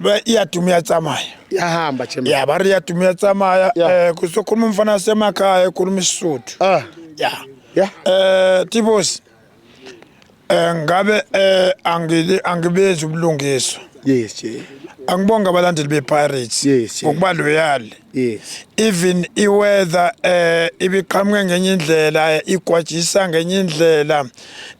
Ba- iyaduma iyatsamaya yahamba chairman ya ba ri iyaduma iyatsamaya Ya. eh kuzokhuluma umfana wasemakhaya ekhuluma isisuthu ah ya ya eh tibosi eh ngabe eh angili angibezi ubulungiswa yes je angibonga abalandeli bePirates Yes, yes. ngokuba loyal yes even i weather eh ibiqhamuke ngenye indlela igwajisa ngenye indlela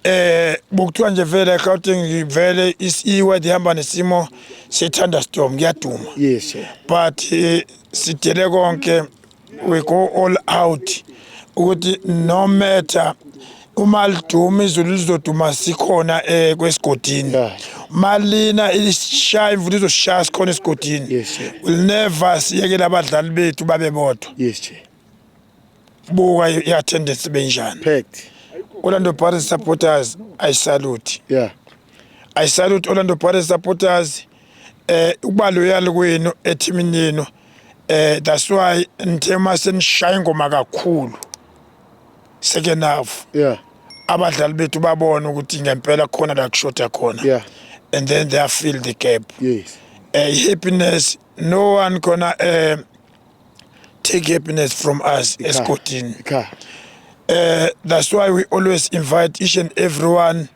eh bukuthiwa nje vele Gauteng vele i weather ihamba nesimo se thunderstorm kuyaduma yes sir. but eh, sidele konke we go all out ukuthi no matter uma liduma izulu lizoduma sikhona eh kwesigodini Yeah. malina isishaya imvula izoshaya sikhona esigodini Yes, sir. will never siyekele abadlali bethu babe bodwa yes che buka i- i-attendance benjani packed orlando pirates supporters i salute yeah i salute orlando pirates supporters eh ukuba loyal kwenu ethimini yenu eh that's why ngithe uma senishaya ingoma kakhulu second half yeah abadlali bethu babona ukuthi ngempela khona la kushoda khona yeah and then they fill the gap yes uh, happiness no one gonna uh, take happiness from us esigodini uh, eh, that's why we always invite each and everyone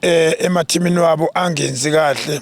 uh, emathimini wabo angenzi kahle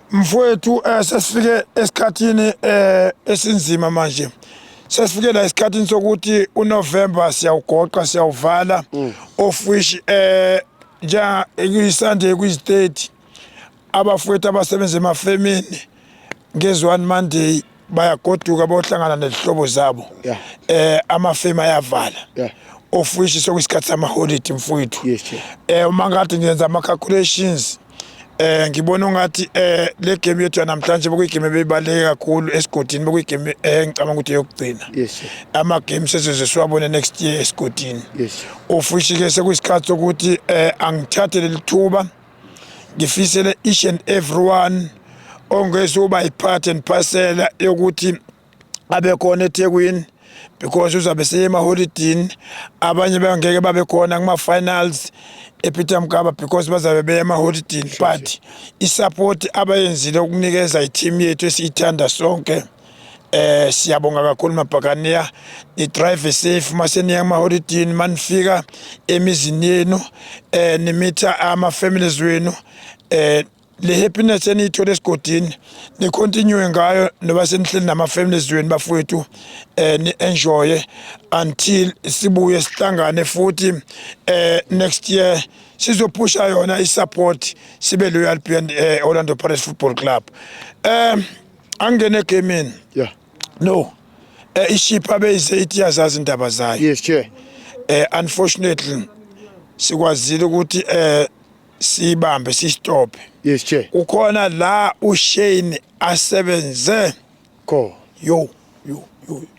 Mfowethu eh, sesifike esikhathini eh, esinzima manje sesifike la esikhathini sokuthi uNovember siyawugoqa siyawuvala mm. of which eh njenga kuyiSunday kuyiState abafowethu abasebenza emafemini ngezwani Monday bayagoduka bohlangana nezihlobo zabo yeah. eh amafemu ayavala yeah. of which sokuyisikhathi samaholiday mfowethu yes, yeah. eh uma ngathi ngenza ama-calculations eh ngibona ungathi eh le game yethu namhlanje bekuyigame ebeyibaluleke kakhulu esigodini bekuyigame eh ngicabanga ukuthi yokugcina yes ama games esizoze siwabone next year esigodini yes ofushike sekuyisikhathi sokuthi eh angithathe lelithuba ngifisele each and everyone ongezuba i-part and parcel yokuthi abe khona eThekwini because uzabe seyemaholidini abanye bangeke babe khona kuma-finals epeter mgaba because bazabe beya emaholidini but isapoti abayenzile ukunikeza i-team yethu esiyithanda sonke Eh siyabonga kakhulu mabhakaniya ni drive safe maseniya ama holiday manifika emizini yenu eh nimitha ama families wenu eh le happiness eniyithole esigodini ni continue ngayo noba senihleli nama families wenu bafowethu eh ni enjoy until sibuye sihlangane futhi eh next year sizophusha yona i support sibe loyal beyond eh, Orlando Pirates Football Club um eh, angene egemini yeah no um eh, iship abeyize ithi yazazi indaba zayo yes chair um unfortunately sikwazile ukuthi um siyibambe siyistophe yes chair kukhona la ushane asebenze kho yo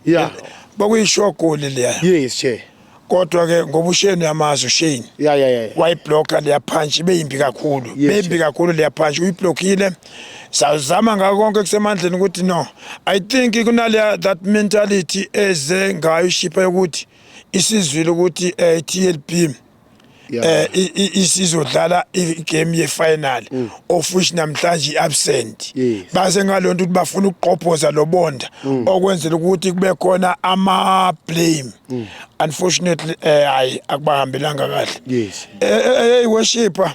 yeah bakuyishogoli leya yes che kodwa ke ngoba usheni yamazi usheni yeah yeah yeah wayiblocker leya punch ibeyimbi kakhulu beyimbi kakhulu leya punch uyiblockile sazama ngako konke kusemandleni ukuthi no i think kunaleya that mentality eze ngayo ishipa yokuthi isizwile ukuthi eh, TLP eh isizodlala igame yefinal mm. of which namhlanje iabsent base ngalonto ukuthi bafuna ukuqophoza lobonda mm. okwenzela ukuthi kube khona ama blame mm. unfortunately eh hayi akubahambelanga kahle yes eh, eh, eh worshipper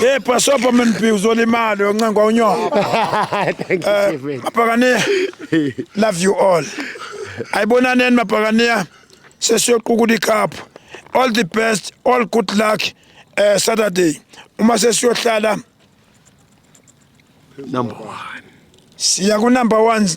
Hey bhasobha mnpi uzolimali oncenga unyoko. Thank you chief. Eh, Mabhakaniya. Love you all. Ayibonaneni mabhakaniya. Sesiyoqukula icup. All the best, all good luck eh Saturday. Uma sesiyohlala number 1. Siya ku number 1